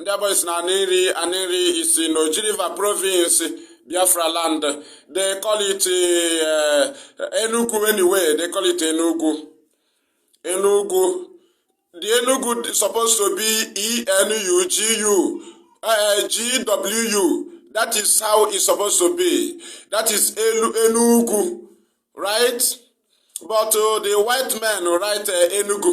ndị abụọ si na anịri anịri isi na ojiriva provinsi biafra land de call it eh, enugu anyway de call it enugu enugu the enugu supposed to be enugu eh, gwu that is how it's supposed to be that is elu enugu right but uh, the white men write uh, enugu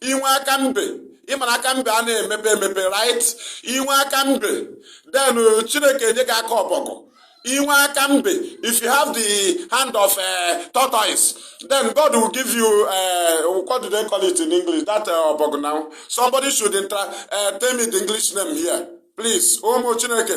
inwe aka mbe ịmara aka mbe a na-emepe emepe right inwe aka mbe then uh, chineke enye gị aka ọbọgwụ inwe aka mbe if you have the hand of uh, tortoise then god will give you uh, what do they call it in english that uh, ọbọgwụ now somebody should intra, uh, tell me the english name here please ụmụ chineke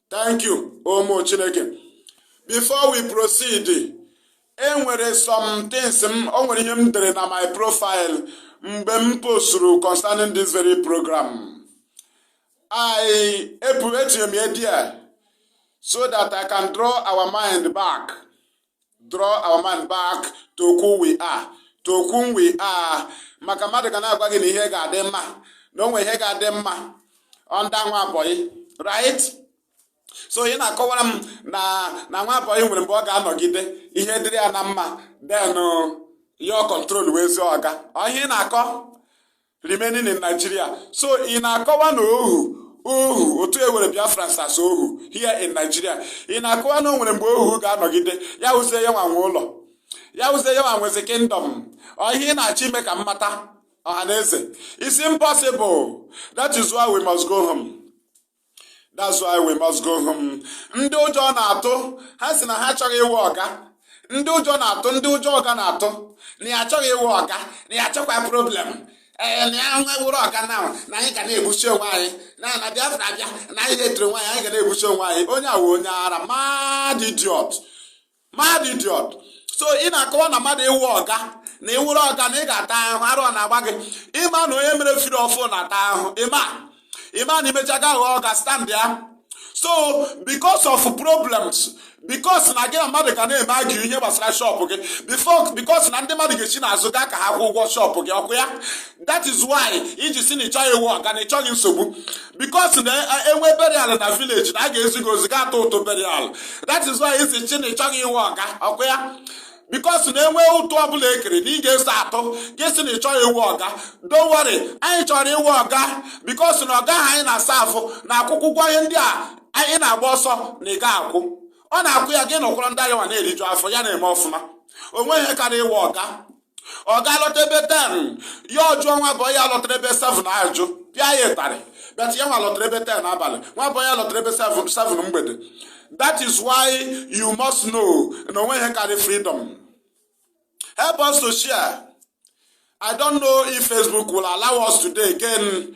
thank you ụmụ chineke before we proceed enwere some things m o nwere ihe m dere na my profile mgbe m posturu concerning this very program i ebu etinyere m ya there so that i can draw our mind back draw our mind back to who we are to whom we are maka mmadụ ga na-agwa gị na ihe ga-adị mma na o nwere ihe ga-adị mma under nwa bọyị right so ị na-akọwara m na na nwa bọyị nwere mgbe ọ ga-anọgide ihe dịrị ya na mma then uh, your control wụzie ọga ọ ihe ị na-akọ remaining in Nigeria so ị na-akọwa na ohu ohu otu e were Biafrans as ohu here in Nigeria ị na-akọwa na o nwere mgbe ohu ga-anọgide ya wụzie ya nwa nwe ụlọ ya wụzie ya nwa nwezi kingdom ọ ihe ị na-achọ ime ka m mata ọha na eze is impossible that is why we must go home. that's why we must go home ndị ụjọ na-atụ ha si na ha achọghị ịwụ ọga ndị ụjọ na-atụ ndị ụjọ ọga na-atụ na ya achọghị ịwụ ọga na ya achọkwa problem ee na ya nwa wụrụ ọga na na anyị ga na-egbusi onwe anyị na na biafra abịa na anyị na-etiri onwe anyị anyị ga na-egbusi onwe anyị onye awa onye ara mad idiot mad idiot so ị na-akọwa na mmadụ ịwụ ọga na ịwụrụ ọga na ị ga-ata ahụhụ arụ ọ na-agba gị ịma na onye mere free ọfụụ na-ata ahụhụ ịma ịma na imecha ga aghọ ọga stand ya so because of problems because na gị na mmadụ ga na-eme argue ihe gbasara shop gị because na ndị mmadụ ga-esi n'azụ gaa ka ha kwụ ụgwọ shop gị ọkwa ya that is why iji si na ịchọghị ịwụ ọga na ịchọghị nsogbu because na enwe burial na village na a ga-ezi gị ozi gaa tụọ ụtụ burial that is why iji si na ị chọghị ịwụ ọga ọkwa ya because na enwe ụtụ ọbụla ekere na ị ga-eso atụ gị si na ị chọghị ịwụ ọga don't worry anyị chọrọ ịwụ ọga because na ọga ahụ anyị na-aserve na-akwụkwa ụgwọ ihe ndị a ị na-agba ọsọ na ị ga-akwụ ọ na-akwụ ya gị nọkwara under ya nwa na-eriju afọ ya na-eme ọfụma o nweghị ihe karịa ịwụ ọga ọga lọta ebe ten ya ọ jụọ nwa bọyị ya lọtara ebe seven ajụ pịa ya ịtarị but ya nwa lọtara ebe ten abalị nwa bọyị ya lọtara ebe seven mgbede that is why you must know na o nweghị ihe karị freedom help us to share i don't know if facebook will allow us today again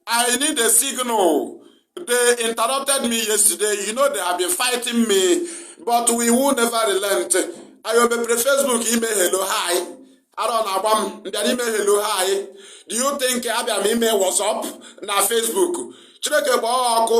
I need a signal. They interrupted me yesterday. You know they have been fighting me, but we will never relent. Anyị ọ mepere Facebook ime hello hi. Ara ọ na-agba m m bịara ime hello hi. Do you think abịa m ime WhatsApp na Facebook? Chineke kpọọ ọkụ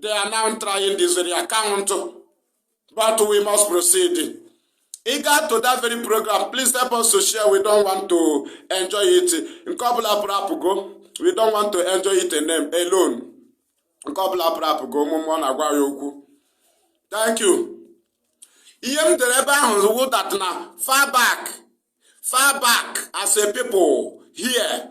They are now trying this very account, but we must proceed. Regard to that very program, please help us to share. We don't want to enjoy it. Nke ọ bụla pụrụ apụgo, we don't want to enjoy it alone. Nke ọ bụla pụrụ apụgo, ọ mụ na-agwa ha okwu. Thank you. Ihe m dere ebe ahụ wụ that na far back, far back as a people here.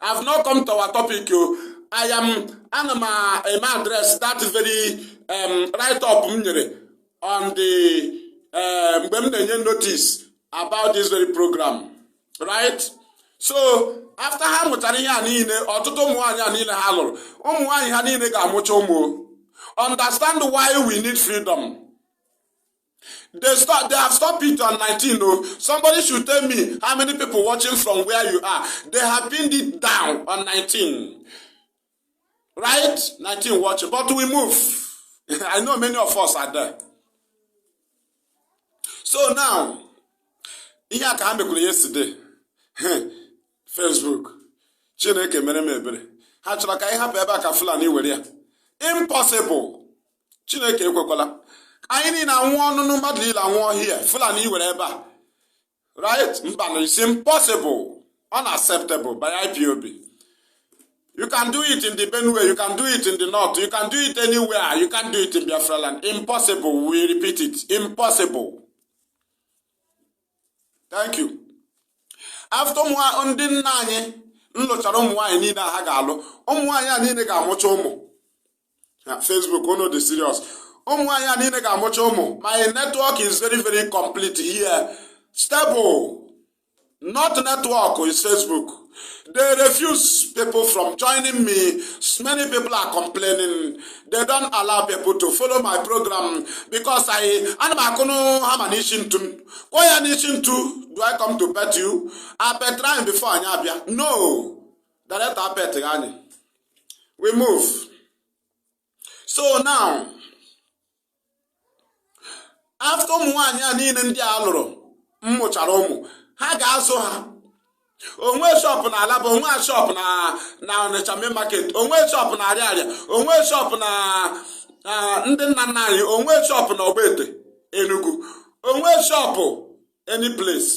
I have not come to our topic o. I am ana m eme address that very um, write up m nyere on the uh, mgbe m na-enye notice about this very program right so after ha mụchara ihe a niile ọtụtụ ụmụ nwaanyị a niile ha lụrụ ụmụ nwaanyị ha niile ga-amụcha ụmụ understand why we need freedom They stop. They have stopped it on 19. Oh, somebody should tell me how many people watching from where you are. They have pinned it down on 19. Right? 19 watching. But we move. I know many of us are there. So now, ihe a ka ha mekwuru yesterday. Facebook. Chineke mere m ebere. Ha chọrọ ka anyị hapụ ebe a ka Fulani were ya. Impossible. chineke ekwekwala anyị niile anwụọ nụnụ mmadụ niile anwụọ here fulani ewere ebe a right mbanụ it's impossible unacceptable by ipob you can do it in the benue you can do it in the north you can do it anywhere you can't do it in biafra land impossible we repeat it impossible thank you after ndị nna anyị nlụchara ụmụ nwaanyị niile a ha ga-alụ ụmụ nwaanyị a niile ga-amụcha ụmụ Facebook unu dị serious ụmụ nwaanyị a niile ga-amụcha ụmụ my network is very very complete here stable not network is Facebook they refuse people from joining me many people are complaining they don't allow people to follow my program because I ana m akụnụ hammer n'isi ntu kụọ ya n'isi ntu do I come to pet you apetara m before anyị abịa no direct apetghị anyị we move so now after ụmụ nwaanyị a niile ndị a lụrụ mmụchara ụmụ ha ga-azụ ha o nwe shop na alaba o nwe shop na na ọnịcha main market o nwe shop na ariaria o nwe shop na ndị nna nna anyị o nwe shop na ọgbete enugu o nwe shop any place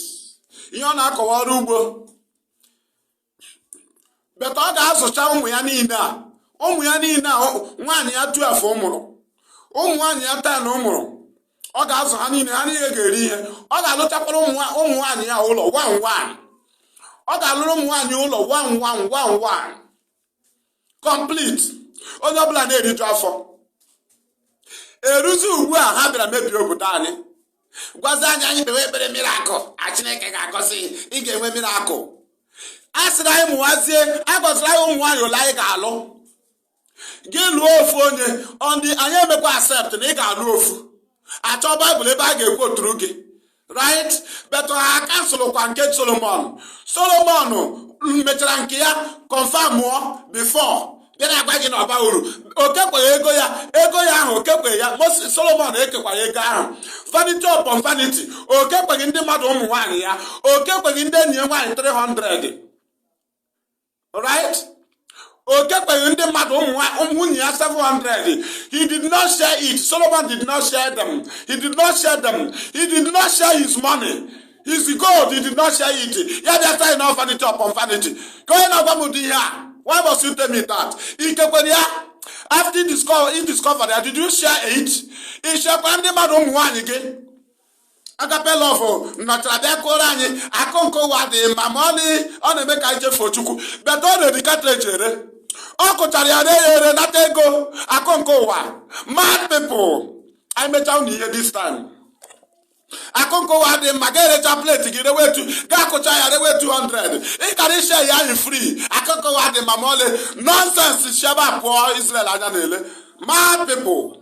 ihe ọ na-akọ wụ ọrụ ugbo but ọ ga-azụcha ụmụ ya niile a ụmụ ya niile a nwaanyị ya twelve mụrụ ụmụ nwaanyị ya ten mụrụ ọ ga-azụ ha niile ha niile ga-eri ihe ọ ga-alụchakwara ụmụ nwaanyị ya ụlọ one one ọ ga-alụrụ ụmụ nwaanyị ụlọ one one one one complete onye ọbụla na-eriju afọ eruzi ugbu a ha bịara mebie obodo anyị gwazi anyị anyị kpewe ekpere miracle na chineke ga-agọzi ị ga-enwe miracle a sịrị anyị mụwazie agọziri anyị ụmụ nwaanyị ole anyị ga-alụ gị lụọ ofu onye and anyị emekwa accept na ị ga-alụ ofu a chọọ Bible ebe a ga-ekwoturu gị right but ha kanselụkwa nke solomon solomon mechara nke ya confirmụọ before bịa na-agwa gị na ọ baghị uru o kekwaghị ego ya ego ya ahụ o kekwaghị ya Moses Solomon ekekwaghị ego ahụ vanity upon vanity o kekwaghị ndị mmadụ ụmụ nwaanyị ya o kekwaghị ndị enyi ya nwaanyị 300 right o kekwaghị ndị mmadụ ụmụ nwunye ya 700 he did not share it solomon did not share them he did not share them he did not share his money his gold he did not share it ya bịa sị na vanity upon vanity ka onye na-agwa m ụdị ihe a why must you tell me that i kekwara ya after you discover, you discover that did you share it ị sharekwa ndị mmadụ ụmụ nwaanyị gị agape love nọchara bịa kụọrọ anyị akụ nke ụwa dị mma ma ọlị ọ na-eme ka anyị chefuo chukwu but ọ na-ere cartridge ere ọ kụchara ya na-ere ere nata ego akụ nke ụwa mad people anyị mechaa unu ihe this time akụ nke ụwa dị mma ga-erecha plate gị rewe two ga-akụcha ya rewe 200 ị kara ịshare ya anyị free akụ nke ụwa dị mma ma ọlị nonsense shi ebe a pụọ Israel anya na-ele mad people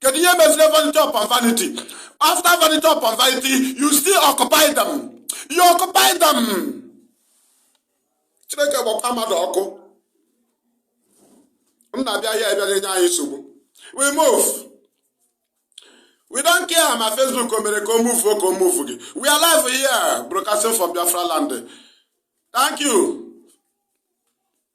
kedu ihe meziri vanity upon vanity after vanity upon vanity you still occupy them you occupy them chineke kpọkwa mmadụ ọkụ m na-abịa here bịa na-enye anyị nsogbu we move we don't care ma facebook o mere ka o move ka o moveghị we are live here broadcasting from biafra land thank you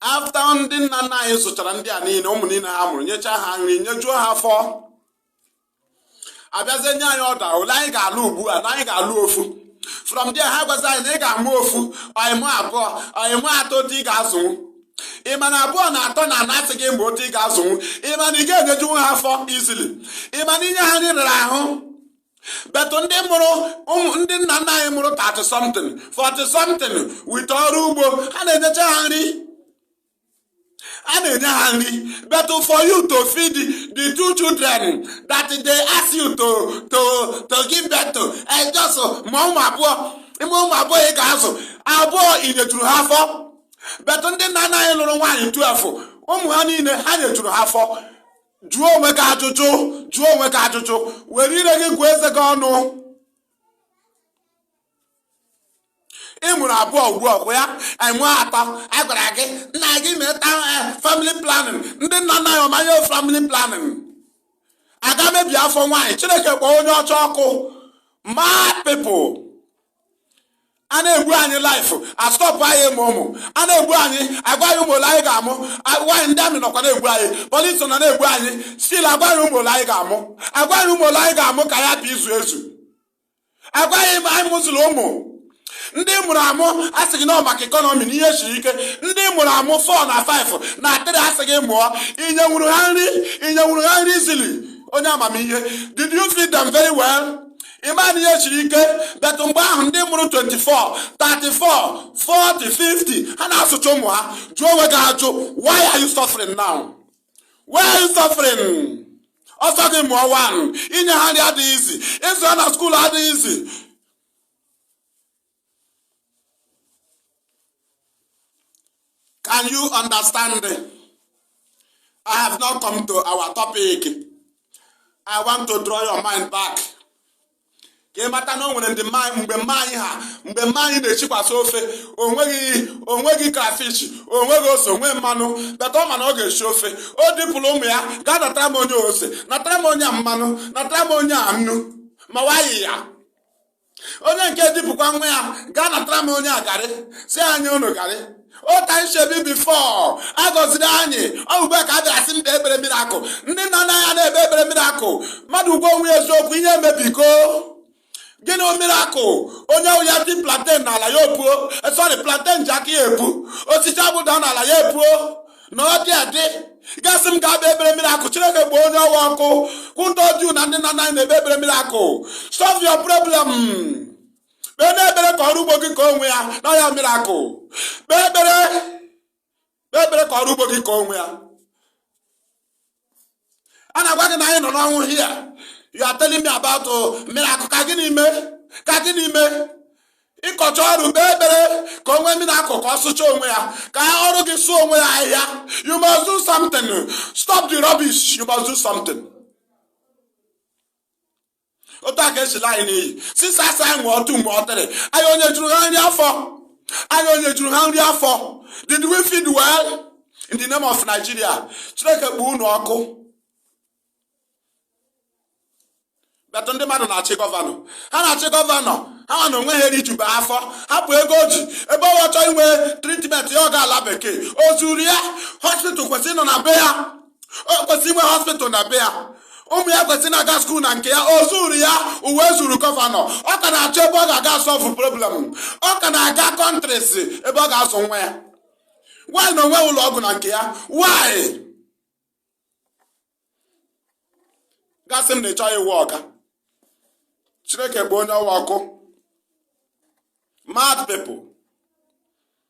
after ndị nna nna anyị zụchara ndị a niile ụmụ niile ha mụrụ nyechaa ha nri nyejuo ha afọ a bịazie nye anyị order ole anyị ga-alụ ugbu a na anyị ga-alụ ofu from there ha gwazi anyị na ị ga-amụ ofu or ị mụọ abụọ or ị mụọ atọ otu ị ga-azụnwu ị ma na abụọ na atọ na a na-asị gị mụbe otu ị ga-azụnwu ị ma na ị ga-enyejuwu ha afọ easily ị ma na inye ha nri rara ahụ but ndị mụrụ ndị nna nna anyị mụrụ 30 something 40 something with ọrụ ugbo ha na-enyecha ha nri ha na-enye ha nri but for you to feed the two children that they ask you to to to give birth to and eh, just ma ụmụ abụọ ị mụọ ụmụ abụọ ị ga-azụ abụọ i nyejuru ha afọ but ndị nna nna anyị lụrụ nwaanyị 12 ụmụ ha niile ha nyejuru ha afọ jụọ onwe gị ajụjụ jụọ onwe gị ajụjụ were ire gị gụọ eze gị ọnụ ị mụrụ abụọ ugbu a kwa ya enwe atọ a gwara gị nna gị meta eh, family planning ndị nna nna anyị ọmanye family planning a gaa mebie afọ nwaanyị chineke kpọọ onye ọcha ọkụ mad people a na-egbu anyị life a stọpụ anyị ịmụ ụmụ a na-egbu anyị agwa anyị ụmụ ole anyị ga-amụ agwa anyị ndị army nọkwa na-egbu anyị polisi nọ na-egbu anyị still agwa anyị ụmụ ole anyị ga-amụ agwa anyị ụmụ ole anyị ga-amụ ka ya bụ izu ezu agwa anyị amụzila ụmụ ndị mụrụ amụ a sị gị na maka economy na ihe siri ike ndị mụrụ amụ four na five na three a sị gị mụọ i nyenwuru ha nri i nyenwuru ha nri easily onye amamihe did you feed them very well? ị ma na ihe siri ike but mgbe ahụ ndị mụrụ 24 34 40 50 ha na-azụcha ụmụ ha jụọ onwe gị ajụ why are you suffering now why are you suffering ọ sị gị mụọ one inye ha nri adịghị easy ịzụ ha na school adịghị easy Can you understand? I have not come to our topic. I want to draw your mind back. ka ị mata na o nwere ndị mgbe mma anyị ha mgbe mma anyị na-eshikwasa ofe o nweghị o nweghị crayfish o nweghị ose o nweghị mmanụ but ọ ma na ọ ga-eshi ofe o dupụrụ ụmụ ya gaa natara m onye ose natara m onye a mmanụ natara m onye a nnu ma wayi ya onye nke dupụkwa nwa ya gaa natara m onye a garị sị anyị unu garị ụta shebi before a gọziri anyị ọ ugbu a ka a bịara sị m kpee ekpere miracle ndị nna nna anyị na-ekpe ekpere miracle mmadụ gwa onwe ya eziokwu ihe emebigo gịnị miracle onye ahụ ya dị plantain n'ala ya o puo sorry plantain ji aka ya epu osisi abụda n'ala ya epuo na ọ dị adị ga sị m gaa kpee ekpere miracle chineke kpọọ onye ọwa ọkụ kwụ ndị ọjụụ na ndị nna nna anyị na-ekpe ekpere miracle solve your problem kpeenụ ekpere ka ọrụ ugbo gị kọọ onwe ya na ya miracle kpee ekpere kpee ekpere ka ọrụ ugbo gị kọọ onwe ya a na-agwa gị na anyị nọ n'ọnwụ here you are telling me about oh, miracle ka gịnị mee ka gịnị mee ị kọchaa ọrụ kpee ekpere ka o nwee miracle ka ọ sụcha onwe ya ka ọrụ gị sụọ onwe ya ahịhịa you must do something stop the rubbish you must do something otu a ka e si ala anyị n'iyi since a sị anyị mụọ two mụọ three anyị ọ nyejuru ha nri afọ anyị ọ nyejuru ha nri afọ did we feed well in the name of Nigeria Chineke kpọọ unu ọkụ but ndị mmadụ na-achị governor ha na-achị governor ha na onwe ha erijube afọ hapụ ego o ji ebe ọ chọọ inwe treatment ya ọ gaa ala bekee o zuru ya hospital kwesịrị ịnọ na be ya o kwesịrị inwe hospital na be ya ụmụ ya kwesịrị na-aga skuul na nke ya o zuru ya uwe zuru gọvanọ ọ ka na-achọ ebe ọ ga-aga solve problem ọ ka na-aga countries ebe ọ ga-azụ nwa ya why na o nweghị ụlọ ọgwụ na nke ya why gasị m na ịchọ ịwụ ọga chineke kpọọ onye ọwa ọkụ mad people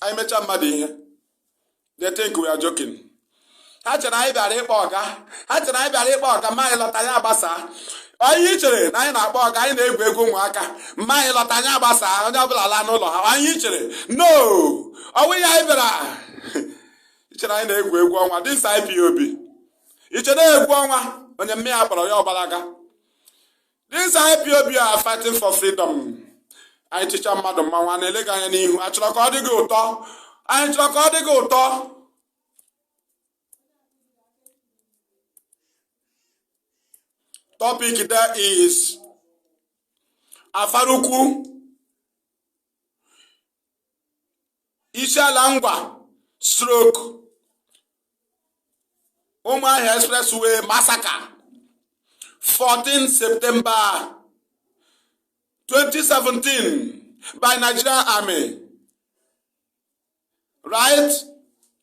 anyị mechaa mmadụ ihe they think we are joking ha chere anyị bịara ịkpọ ọga ha chere anyị bịara ịkpọ ọga ma anyị lọta anyị agbasa onye chere na anyị na-akpọ ọga anyị na-egwu egwu ụmụaka ma anyị lọta anyị agbasa onye ọbụla laa n'ụlọ ha i chere na ọ wụ ya anyị bịara ichere anyị na-egwu egwu ọnwa this IPOB ichere egwu ọnwa onye mma ya kpọrọ ya ọ gbalaga These IPOB are fighting for freedom. Anyị chịcha mmadụ mmanwụ na-ele gị anya n'ihu achọrọ ka ọ dị gị ụtọ anyị chọrọ ka ọ dị gị ụtọ topic there is Afaraukwu Isiala Ngwa stroke Ụmụahịa expressway massacre 14 September 2017 by Nigerian army right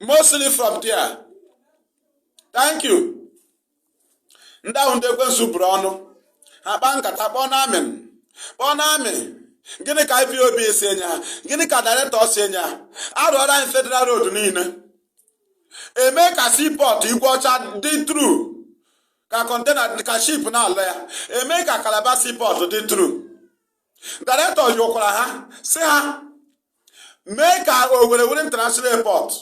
mostly from there thank you ndị a wụ ndị ekwensu bụrụ ọnụ ha kpaa nkata kpọọnụ army kpọọnụ army gịnị ka IPOB sị enye ha gịnị ka director sị enye ha arụọrọ anyị federal road niile eme ka seaport Igweọcha dị through ka container ka ship na-alọ ya eme ka Calabar seaport dị through director yọkwara ha sị ha mee ka Owerri wụrụ international airport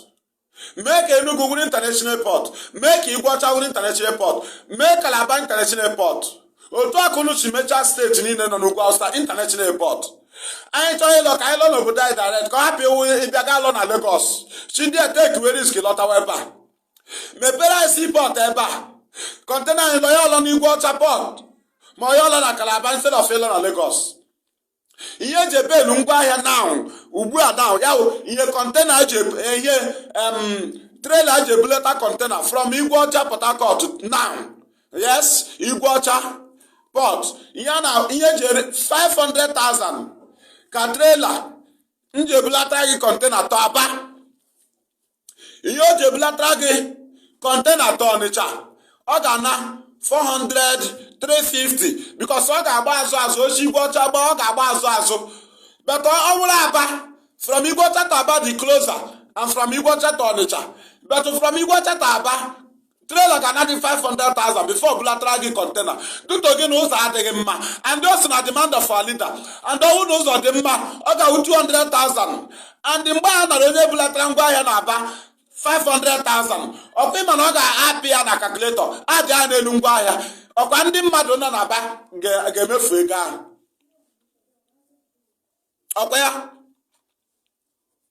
mee ka Enugu wụrụ international airport mee ka Igweọcha wụrụ international airport mee ka Calabar international airport otu ahụ unu si mechaa state niile nọ n'ugwu awụsa international airport anyị chọọ ịlọ ka anyị lọ n'obodo anyị direct ka ọ hapụ ịwụ ị bịa ga lọ na Lagos si ndị etekiwe risk lọtawa ebe a mepere anyị seaport ebe a container anyị lọ ya alọ n'Igweọcha port ma ọ ya alọ na Calabar instead of ịlọ na Lagos ihe eji ebelu ngwa ahịa now ugbu a now ya ihe container eji ihe trailer eji ebuleta container from Igweọcha Port Harcourt now yes Igweọcha port ihe na ihe eji 500,000 ka trailer na-eji ebulata gị container to Aba ihe o ji ebulatara gị container to ọnịcha ọ ga-ana 400 350 because ọ ga-agba azụ azụ o si igwe ọcha gba ọ ga-agba azụ azụ but ọ wụrụ aba from igwe ọcha to aba dị closer than from igwe ọcha to ọnịcha but from igwe ọcha to aba trailer ga-ana gị 500,000 before o bulatara gị container due to gịnị ụzọ adịghị mma and o so na demand of our leader and ọ wụ na ụzọ dị mma ọ ga-awụ 200,000 and mgbe a nara onye bulatara ngwa ahịa na aba 500,000 ọkwa ị ma na ọ ga-apị ya na calculator adị ya n'elu ngwa ahịa ọkwa ndị mmadụ nọ n'aba ga-emefu ego ahụ ọkwa ya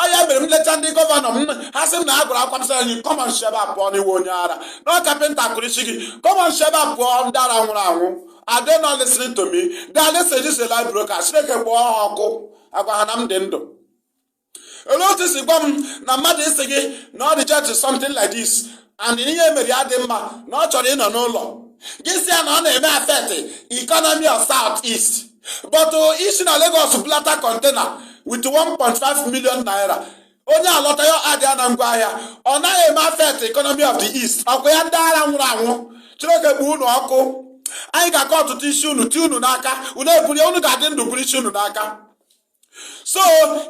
ọ ya mere m lecha ndị gọvanọ m ha sị m na a gwara akwa m sị enyi come on shi ebe a pụọ n'ị wụ onye ara na carpenter kụrụ isi gị come on shi ebe a pụọ ndị ara nwụrụ anwụ are they not listening to me they are listening this is live broadcast chineke kpọọ ha ọkụ agwa ha na m dị ndụ olee otu si gwa m na mmadụ ịsị gị na ọ reject something like this and ihe mere ya dị mma na ọ chọrọ ịnọ n'ụlọ gị sị ya na ọ na-eme affect economy of south east but i si na Lagos bulata container with 1.5 million naira onye alọta ya adịa na ngwa ahịa ọ naghị eme affect economy of the east ọkwa ya ndị ara nwụrụ anwụ chineke kpọọ unu ọkụ anyị ga-akọ ọtụtụ isi unu ti unu n'aka unu eburu ya unu ga-adị ndụ buru isi unu n'aka so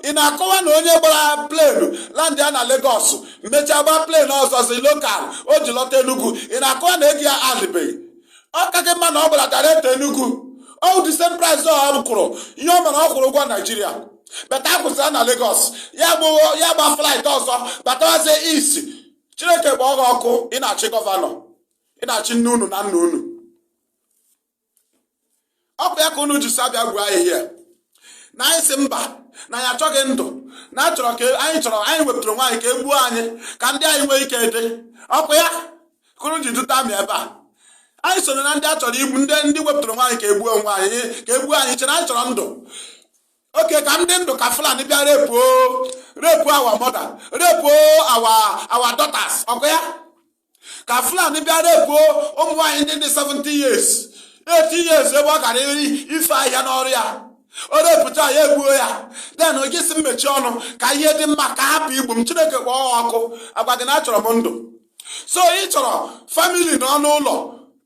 ị na-akọwa na onye gbara plane landịa na Lagos mechaa gbaa plane ọzọzi local o ji lọta Enugu ị na-akọwa na ego ya adịbeghị ọ kaghị mma na ọ gbara direct to Enugu ọ wụ the same price ọ kwụrụ ihe ọ ma na ọ kwụrụ ụgwọ Naijiria but a kwụsị ya na Lagos ya gba flight ọzọ batawazie east Chineke kpọọ gị ọkụ ị na-achị gọvanọ ị na-achị nne unu na nna unu ọ bụ ya ka unu ji si abịa gwa anyị ihe na anyị si mba na anyị achọghị ndụ na achọrọ ka anyị chọrọ anyị wepụtara onwe anyị ka e gbuo anyị ka ndị anyị nwee ike dị ọkwa ya ka unu ji duta m ebe a anyị soro na ndị a chọrọ igbu ndị ndị wepụtara onwe anyị ka egbuo onwe anyị ka egbuo anyị chere na anyị chọrọ ndụ okay ka m dị ndụ ka fulani bịa repuo repuo our mother repuo our our daughters ọkwa ya ka fulani bịa repuo ụmụ nwaanyị ndị dị 70 years 80 years ebe ọ gara ife ahịhịa n'ọrụ ya o repuchaa ya egbuo ya then gị sị m mechie ọnụ ka ihe dị mma ka a hapụ igbu m chineke kpọọ gị ọkụ agwa gị na achọrọ m ndụ so ị chọrọ family nọ n'ụlọ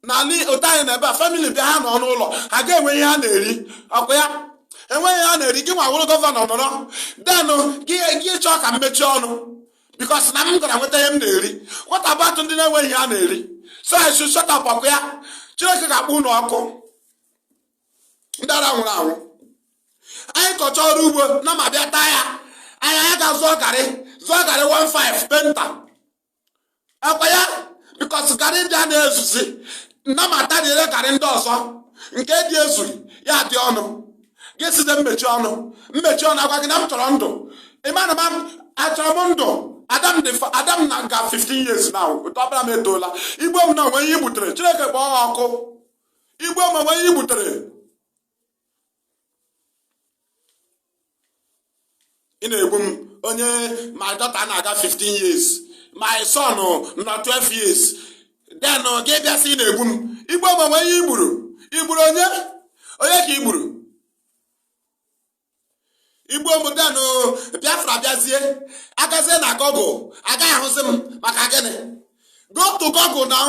n'ala otu anyị na ebe a family bịa ha nọ n'ụlọ ha ga-enwe ihe ha na-eri ọkwa ya enweghị ihe ha na-eri gị nwa wụrụ gọvanọ nọrọ then gị chọọ ka m mechie ọnụ because na m gara nweta ihe m na-eri what about ndị na-enweghị ihe ha na-eri so I should shut up ọkwa ya Chineke ga-akpọ unu ọkụ ndị ara nwụrụ anwụ anyị kọcha ọrụ ugbo nama bịa taa ya anyị anyị ga-azụọ garị zụọ garị 15 painter ọkwa ya because garị ndị a na-ezuzi nama atarie garị ndị ọzọ nke dị ezughị ya adị ọnụ gị sịzie m mechie ọnụ m mechie ọnụ agwa gị na m chọrọ ndụ ị ma na m achọrọ m ndụ ada m ada m na-aga 15 years now ọkpara m etoola i gbuo m now o nwe ihe i gbutere chineke kpọọ ọkụ i gbuo m o nwe ihe i gbutere ị na-egbu m onye my daughter na-aga 15 years my son nọ 12 years then gị abịa sị ị na-egbu m i gbuo m o nwe ihe i gburu i gburu onye onye ka i gburu i gbuo m then Biafra bịazie a gazie na Google a gaghị ahụzi m maka gịnị go to Google now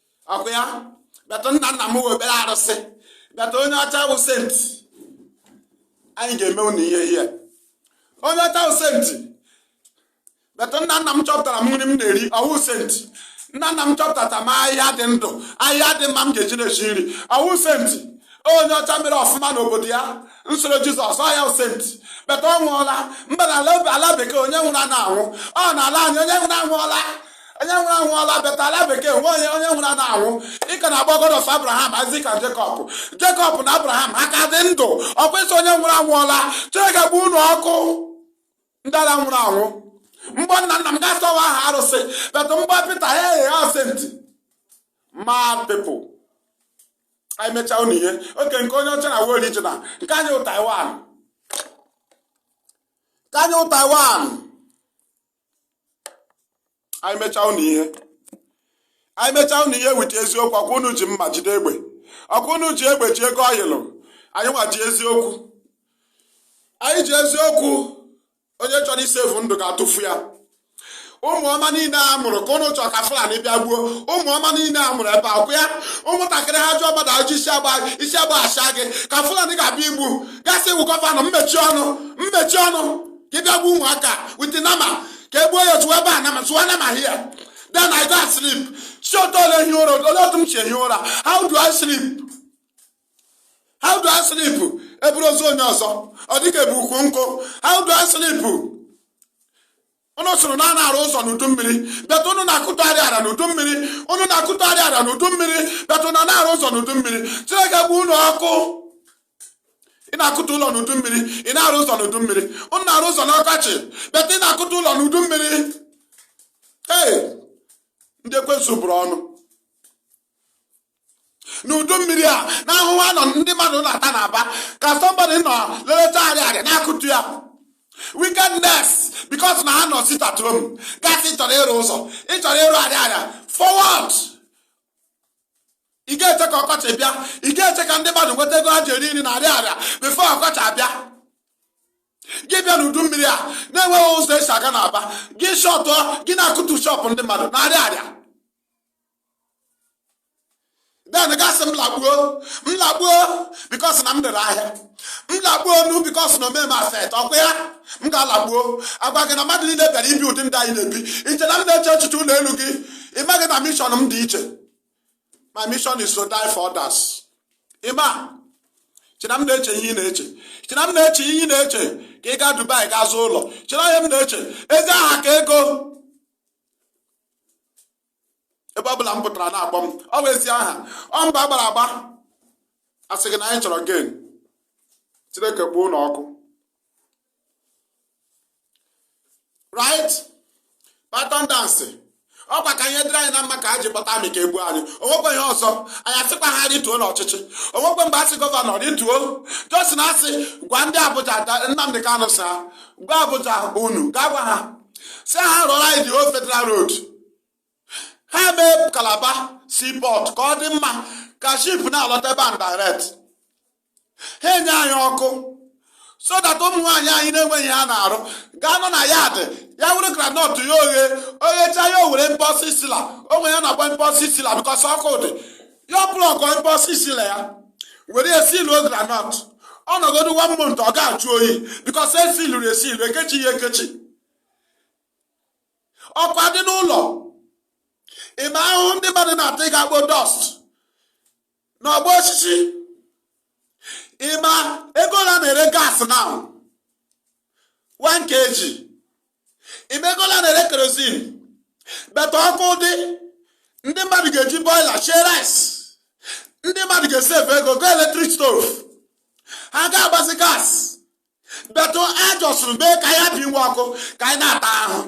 ọkwa ya but nna nna m wụ ekpere arụsị but onye ọcha wụ saint anyị ga-eme unu ihe ihe onye ọcha wụ saint but nna nna m chọpụtara m nri m na-eri ọ wụ saint nna nna m chọpụtara m ahịhịa dị ndụ ahịhịa dị mma m ga-eji na-esi nri ọ wụ saint onye ọcha mere ọfụma n'obodo ya nsoro Jizọs ọ ya wụ saint but ọ nwụọla mba n'ala bekee onye nwụrụ anaghị anwụ ọ n'ala anyị onye nwụrụ anwụọla onye nwụrụ anwụọla but ala bekee onye onye nwụrụ anaghị anwụ ị ka na-akpọ God of Abraham Isaac and Jacob Jacob na Abraham ha ka dị ndụ ọkwa ị sị onye nwụrụ anwụọla Chineke gbuo unu ọkụ ndị ara nwụrụ anwụ m kpọọ nna nna m gị asị ọ wụ aha arụsị but m kpọọ Pita ha aghọọ saint mad people anyị mechaa unu ihe okay nke onye ọcha now wụ original nke anyị wụ Taiwan nke anyị wụ Taiwan anyị mechaa unu ihe anyị mechaa unu ihe with eziokwu ọkwa unu ji mma jide egbe ọkwa unu ji egbe ji ego oil anyị nwa ji eziokwu anyị ji eziokwu onye chọrọ ịsave ndụ ga-atụfu ya ụmụ ọma niile a mụrụ ka ụnụ chọrọ ka Fulani bịa gbuo ụmụ ọma niile a mụrụ ebe a ọkwa ya ụmụntakịrị ha jụọ mmadụ ajụjụ isi agba isi agba asha gị ka Fulani ga-abịa igbu gị asị ị wụ governor m mechie ọnụ m mechie ọnụ ka ị bịa gbuo ụmụaka with nama ka e gbuo ya otu ebe a nama zụwa nama here then i go and sleep si otu ole ehi ụra ole otu m si ehi ụra how do i sleep how do i sleep e buru ozu onye ọzọ ọ dị ka e bu ukwu nkụ how do i sleep ụnụ sịrị na anaghị arụ ụzọ n'udu mmiri but ụnụ na-akụtụgharị ara n'udu mmiri ụnụ na-akụtụgharị ara n'udu mmiri but ụnụ na-arụ ụzọ n'udu mmiri Chineke gbuo ụnụ ọkụ ị na-akụtu ụlọ n'udu mmiri ị na-arụ ụzọ n'udu mmiri ụnụ na-arụ ụzọ n'ọkọchị but ị na-akụtu ụlọ n'udu mmiri ee ndị ekwensu bụrụ ọnụ n'udu mmiri a na ahụhụ anọ ndị mmadụ na-ata n'Aba ka somebody nọ leleta Ariaria na-akụtu ya wickedness because na ha nọ sit at home gị asị ị chọrọ ịrụ ụzọ ị chọrọ ịrụ Ariaria for what ị ga-eche ka ọkọchị bịa ị ga-eche ka ndị mmadụ nweta ego ha ji eri nri na Ariaria before ọkọchị abịa gị bịa n'udu mmiri a na-enweghị ụzọ e si aga n'Aba gị shọtụọ gị na-akụtu shop ndị mmadụ na Ariaria then gị asị m lagbuo m lagbuo because na m dere ahịa m lagbuo ọnụ because na o meghị m affect ọ kwa ya m ga-alagbuo a gwa gị na mmadụ niile bịara ibi ụdị ndụ anyị na-ebi i che na m na-eche echiche ụlọ elu gị ị maghị na mission m dị iche my mission is to die for others ị ma i che na m na-eche ihe ị na-eche i che na m na-eche ihe ị na-eche ka ị gaa Dubai gaa zụọ ụlọ i che na ihe m na-eche ezi aha ka ego ebe ọ bụla m pụtara a na-akpọ m ọ bụ ezi aha ọ mbọ a gbara agba a sị gị na anyị chọrọ gain Chineke kpọọ unu ọkụ right pattern dance ọ kwa ka ihe dịrị anyị na mma ka a ji kpọta army ka e gbuo anyị o nwekwe ihe ọzọ anyị asịkwa ha rituo n'ọchịchị o nwekwe mgbe a sị governor rituo just na a sị gwa ndị Abuja Nnamdi Kanu sị a gwa Abuja unu gaa gwa ha sị ha rụọrọ anyị the old federal road ha mee Calabar seaport ka ọ dị mma ka ship na-alọta ebe a direct ha enye anyị ọkụ so that ụmụ nwaanyị anyị na-enweghị ihe ha na-arụ gaa nọ na yard ya were groundnut ya o ghe o ghecha ya o were impulse sealer onwe ya na-agba impulse sealer because ọkụ dị ya plọgụọ impulse sealer ya were ya siluo groundnut ọ nọgodu one month ọ ga-ajụ oyi because e siluru esilu e kechi ya ekechi ọkụ adị n'ụlọ ị ma ahụhụ ndị mmadụ na-ata ịga kpo dust n'Ọgbọ Osisi ị ma ego ole a na-ere gas now 1 kg ị ma ego ole a na-ere kerosene but ọkụ dị ndị mmadụ ga-eji boiler shie rice ndị mmadụ ga-esave ego go electric stove ha ga-agbazi gas but a jọsụrụ mee ka anyị bi nwa ọkụ ka anyị na-ata ahụ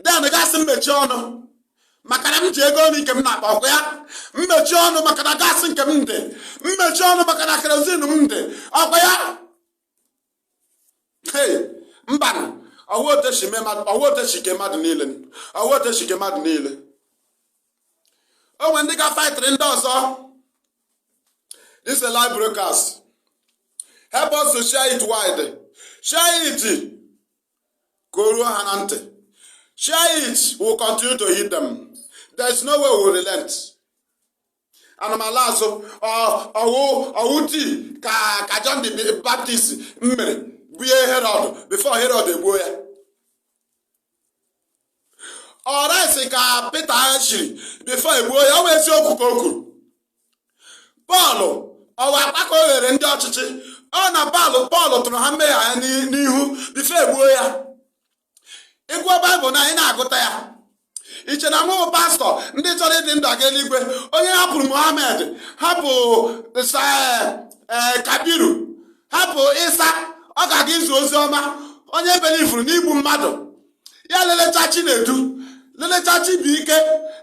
then gị asị m mechie ọnụ maka na m ji ego nri nke m na-akpa ọ kwa ya m mechie ọnụ maka na gas nke m dị m mechie ọnụ maka na kerosene m dị ọ kwa ya mba ọ wụ otu e shi kee mmadụ niile ọ wụ otu e shi kee mmadụ niile o nwe ndị ga-faịtịrị ndị ọzọ this is a live broadcast help us to share it wide share it ka o ruo ha na ntị share it we'll continue to hit them there is no way we will relent ana m ala azụ ọ wụ ọ wụ otii ka ka John the Baptist mere bunye Herod before Herod e gbuo ya ọ raịs ka pita shiri bifo e gbuo ya ọ wụ eziokwu ka o kwuru pọl ọ wụ akpaka o ghere ndị ọchịchị ọ na pọl pọl tụrụ ha mmehie ha n'ihu bifo e gbuo ya ị gụọ baịbụl na anyị na-agụta ya i che na m wụ pastọ ndị chọrọ ịdị ndụ aga eluigwe onye hapụrụ mohammed hapụ eh, eh, kabiru hapụ isa ọ ga-aga izi ozi ọma onye belivuru n'igbu mmadụ ya lelecha chinedu lelecha chibụike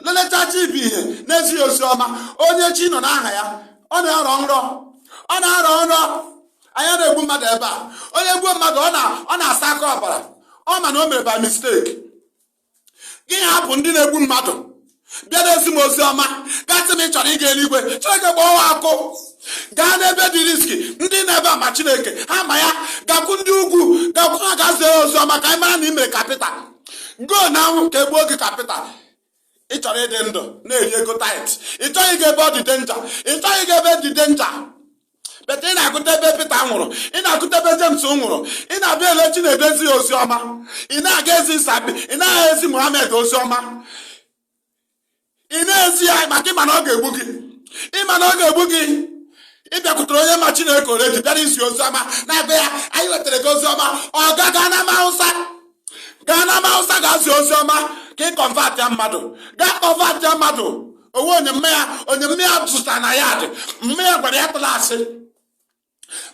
lelecha chibụihe na-ezi ha ozi ọma onye chi nọ n'aha ya ọ na-arọ nrọ ọ na-arọ nrọ anyị a na-egbu mmadụ ebe a onye gbuo mmadụ ọ na-asa aka ọbara ọ ma na o mere by mistake gị hapụ ndị na-egbu mmadụ bịa na-ezi m ozi ọma ga-asị m ị chọrọ ịga eluigwe chineke kpọọ ọkụ gaa n'ebe dị riski ndị nọ ebe a ma chineke ha ma ya gakwu ndị ugwu gakwu ha gaa zie ozi ọma ka anyị mara na ị mere kapịta go now ka e gbuo gị kapịta ị chọrọ ịdị ndụ na-eri ego tait ị chọghị ịga ebe ọ dị denja ị chọghị ịga ebe dị denja bet ị na-agụta ebe Pita nwụrụ ị na-agụta ebe James nwụrụ ị na-abịa ele Chinedu ezi ozi ọma ị na-aga ezi Sabi ị na-aga ezi Muhammed ozi ọma ị na-ezi ya maka ị ma na ọ ga-egbu gị ị ma na ọ ga-egbu gị ị bịakwutere onye ma Chineke already bịara izi ozi ọma na be ya anyị wetara gị ozi ọma ọ gaa gaa n'ama Hausa gaa n'ama hausa gaa zie ozi ọma ka ị kọnvatịa mmadụ gaa kọnvatịa mmadụ ọ wụ onye mma ya onye mma ya zụta na ya dị mma ya gwara ya atụla asị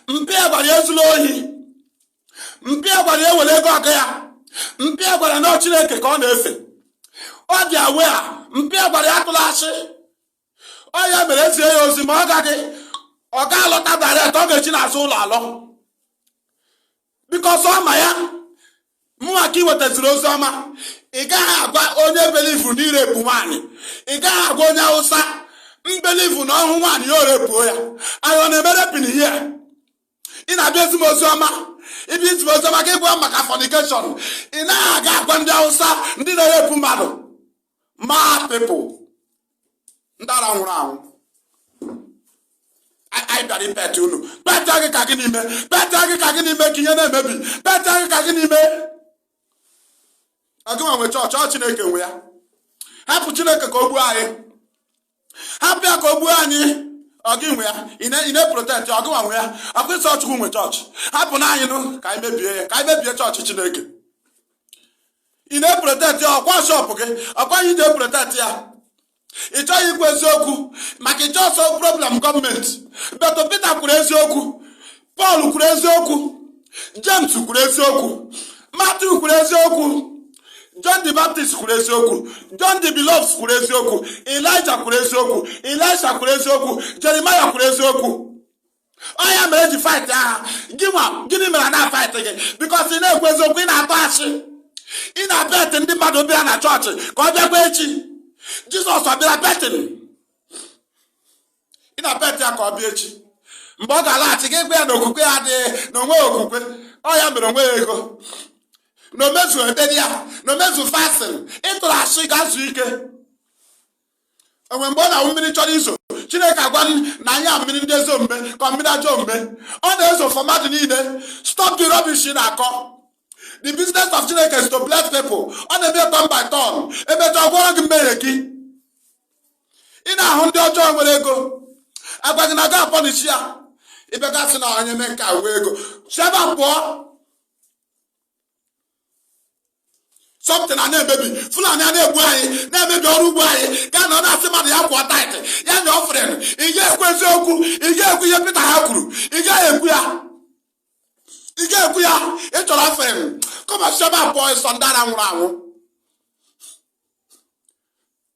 mpa ya gwara ya ezula ohi mpa ya gwara ya ewere ego ọga ya mpa ya gwara na ọ chineke ka ọ na-efe ọ dị aware mpa ya gwara ya atụla asị ọ ya mere e zie ya ozi ma ọ gaghị ọ ga-alọta direct ọ ga-eshi n'azụ ụlọ alọ bikọs ọ ma ya mụnwa ka ị wetaziri ozi ọma ị gaghị agwa onye belivu n'irepu nwaanyị ị gaghị agwa onye awụsa belivu na ọ hụ nwaanyị ya erepuo ya anyị ọ na-eme raping here ị na-abịa ezi m ozi ọma ị bịa ezi m ozi ọma ka ị gwa m maka fọnikeshọn ị naghị aga agwa ndị awụsa ndị na-erepu mmadụ mad people ndị ara nwụrụ anwụ anyị bịara ipet unu peta gị ka gịnị mee peta gị ka gịnị mee ka ihe na-emebi peta gị ka gịnị mee ọ gị nwa nwe chọọchị ọ chineke nwe ya hapụ chineke ka o gbuo anyị hapụ ya ka o gbuo anyị ọ gị nwe ya ị na-eprotekt ya ọ gị nwa nwe ya ọkwa ị sị chukwu nwe chọọchị hapụ na anyị nụ ka anyị mebie ya ka anyị mebie chọọchị chineke ị na-eprotekt ya ọkwa shọpụ gị ọkwa ya i ji eprotekt ya ị chọghị ikwu eziokwu maka ịchọ ọsọ problem gọọmenti but pita kwuru eziokwu pọl kwuru eziokwu jems kwuru eziokwu matiu kwuru eziokwu john the baptist kwuru eziokwu john the beloved kwuru eziokwu elija kwuru eziokwu elisha kwuru eziokwu jeremaya kwuru eziokwu ọ ya mere eji fight ha gị nwa gịnị mere anaghị afight gị bikos ị naghị ekwu eziokwu ị na-atụ asị ị na-apet ndị mmadụ ọ bịa na chọọchị ka ọ bịakwa echi jizọs ọ bịara petin ị na-apet ya ka ọ bịa echi mgbe ọ ga-alaghachi gị gwa ya na okwukwe ya adịghị na o nweghị okwukwe ọ ya mere o nweghị ego na o mezughị ekpere ya na o mezughị fasting ị tụrụ asị gaa zuo ike enwe mgbe ọ na-awụ mmiri chọrọ izo chineke agwa na anyị a mmiri ndị ezi omume ka mmiri ajọ omume ọ na-ezo for mmadụ niile stop the rubbish ị na-akọ the business of chineke is to bless people ọ na-eme turn by turn emechaa gwọrọ gị mmehie gị ị na-ahụ ndị ọjọọ nwere ego agwa gị na a ga-apunish ya ị bịa ga-asị na onye mee nke wee ego si ebe a pụọ something a na-emebi fulani a na-egbu anyị na-emebi ọrụ ugbo anyị gị anọ na-asị mmadụ ya kwụọ taịtị ya nye ọfren ị ga-ekwu eziokwu ị ga-ekwu ihe pita ha kwuru ị gaghị ekwu ya ị ga-ekwu ya ị chọrọ ọfren come on si ebe a pụọ i so ndị ara nwụrụ anwụ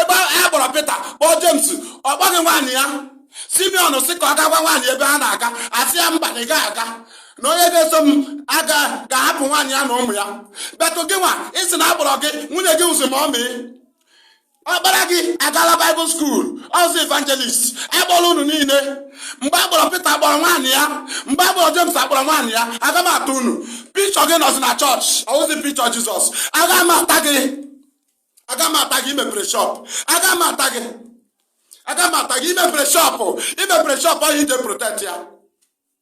ebe a kpọrọ Pita kpọọ Jems ọ kpọghị nwaanyị ya Simeon sị ka ọ gaa gwa nwaanyị ya ebe ha na-aga asị ya mba na ị gaghị aga na onye ga-eso m ga-ahapụ nwaanyị ya na ụmụ ya but gị nwa ị sị na akpọrọ gị nwunye gị wụzị mọmị ọkpara gị agala baịbụl skuul ọ wụzị evangelist akpọrọ unu niile mgbe akpọrọ Pita akpọrọ nwaanyị ya mgbe akpọrọ James akpọrọ nwaanyị ya aga m ata unu pikchọ gị nọzi na chọọchị ọ wụzi pikchọ Jizọs aga m ata gị aga m ata gị imepere shọpụ aga m ata gị aga m ata gị imepere shọpụ imepere shọpụ ọ ya i ji eprotect ya